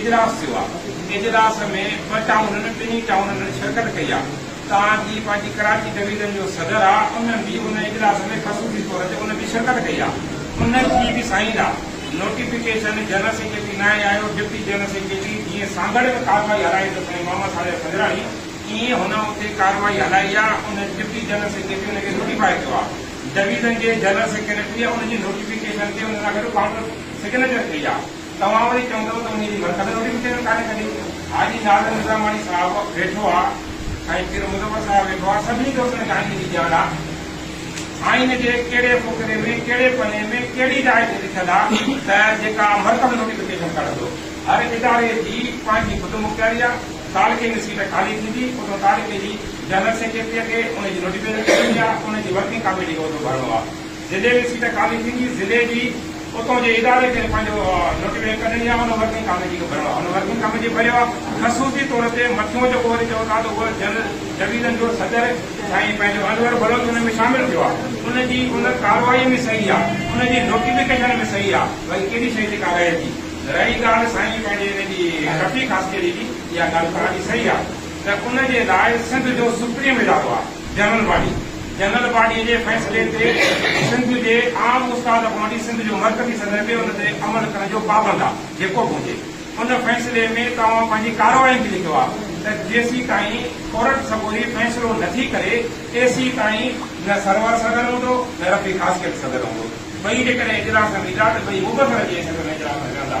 اجلاس ٿيو آ اجلاس ۾ ٻه ٽائونن ٻنهي ٽائونن ۾ شرڪت ڪئي آ تان جي پنهنجي ڪراچي ڊويزن جو صدر آ ان به ان اجلاس ۾ خصوصي طور تي ان به شرڪت ڪئي آ ان جي به سائين آ نوٽيفڪيشن جنرل سيڪريٽري ناهي آيو ڊپٽي جنرل سيڪريٽري جيئن سانگهڙ ۾ ڪارروائي هلائي ته سائين محمد صالح سنجراڻي ايئن هن اتي ڪارروائي هلائي آ ان ڊپٽي جنرل سيڪريٽري ان کي نوٽيفائي ڪيو آ ڊويزن جي جنرل سيڪريٽري ان جي نوٽيفڪيشن تي ان سان گڏ ڪائونٽر سگنيچر ڪئي آ. توهان وري چوندؤ ته انهيء جي مرڪز ۾ وري مون چينل ڪانهي ڪڍي. حاجي ناظر نظاماڻي صاحب ويٺو آ، سائين پير مظفر صاحب ويٺو آ، سڀني کي اسان جي آئيني جي ڄاڻ آ. آئين جي ڪهڙي فقري ۾ ڪهڙي پني ۾ ڪهڙي راء تي لکيل آ ته جيڪا مرڪز نوٽيفڪيشن ڪڍندو. هر اداري جي پنهنجي خودمختياري آ، تعلقي ۾ سيٽ خالي ٿيندي اوڏهو تعلقي جي جنرل سيڪريٽريء کي ان جي نوٽيفڪيشن ڪڍڻي آ، ان جي ورڪنگ ڪاميٽيء کي عهدو ڀرڻو آ. ضلعي ۾ سيٽ خالي ٿيندي، ضلعي جي اتو جي اداري کي پنهنجو نوٽيفڪيشن ڪڍڻي آ، ان ورڪنگ ڪاميٽي کي ڀرڻو آ، ان ورڪنگ ڪاميٽي ڀريو آ، خصوصي طور تي مٿيون جيڪو وري چئو ٿا ته اهو جنرل ڊويزن جو صدر سائين پنهنجو انور بلوچ ان ۾ شامل ٿيو آ، ان جي ان ڪارروائي ۾ صحيح آ، ان جي نوٽيفڪيشن ۾ صحيح آ، باقي ڪهڙي شيء جي ڪا رهي ٿي، رهي ڳالهه سائين پنهنجي ان جي رفيق عسڪري جي، اها ڳالهه توهان جي صحيح آ ته ان جي لاء سنڌ جو سپريم ادارو آ. جنرل باڊي، جنرل باڊي جي فيصلي تي سنڌ جي عام استاد کان وٺي سنڌ جو مرڪزي صدر به ان تي عمل ڪرڻ جو پابند آ جيڪو به هجي. ان فيصلي ۾ توهان پنهنجي ڪارروائين به لکيو آ ته جيسيتائين ڪورٽ سڳوري فيصلو نٿي ڪري تيسيتائين نه سرور صدر هوندو نه رفيع خاصخيل صدر هوندو. ٻئي جيڪڏهن اجلاس هلندا ته ٻئي مبصره جي حيثيت ۾ اجلاس هلندا.